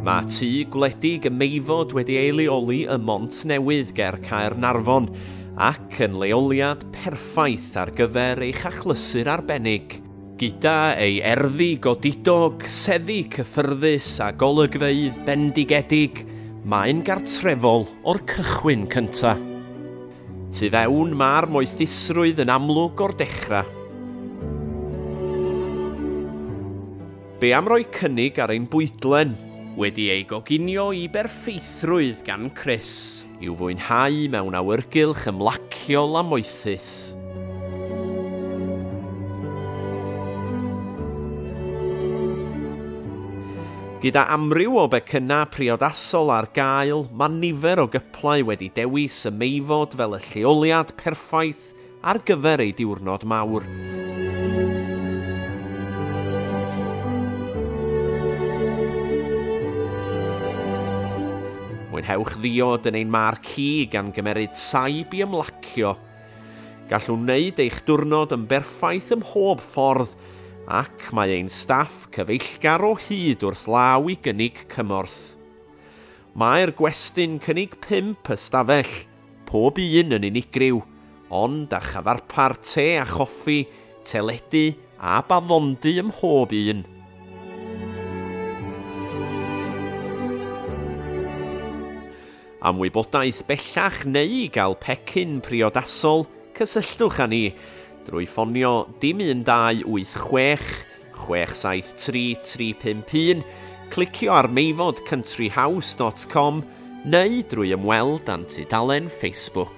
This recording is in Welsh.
Mae tŷ gwledig y Meifod wedi ei leoli ym Mont Newydd ger Caernarfon ac yn leoliad perffaith ar gyfer eich achlysur arbennig. Gyda ei erddi godidog, seddi cyffyrddus a golygfeydd bendigedig, mae'n gartrefol o'r cychwyn cyntaf. Tu fewn mae'r moethusrwydd yn amlwg o'r dechrau. Be am roi cynnig ar ein bwydlen? Wedi ei goginio i berffeithrwydd gan Chris. I'w fwynhau mewn awyrgylch ymlaciol a moethus. Gyda amryw o becynnau priodasol ar gael, mae nifer o Play wedi dewis y Meifod fel y lleoliad perffaith ar gyfer ei diwrnod mawr. Mwynhewch ddiod yn ein mar ci gan gymeryd saib i ymlacio. Gallwn wneud eich diwrnod yn berffaith ym mhob ffordd ac mae ein staff cyfeillgar o hyd wrth law i gynnig cymorth. Mae'r gwesty'n cynnig pump ystafell, pob un yn unigryw, ond â chyfarpar te a choffi, teledu a baddondy ym mhob un. Am wybodaeth bellach neu i gael pecyn priodasol, cysylltwch â ni drwy ffonio dim 1286 673-351, clicio ar meifod countryhouse.com neu drwy ymweld â'n tudalen Facebook.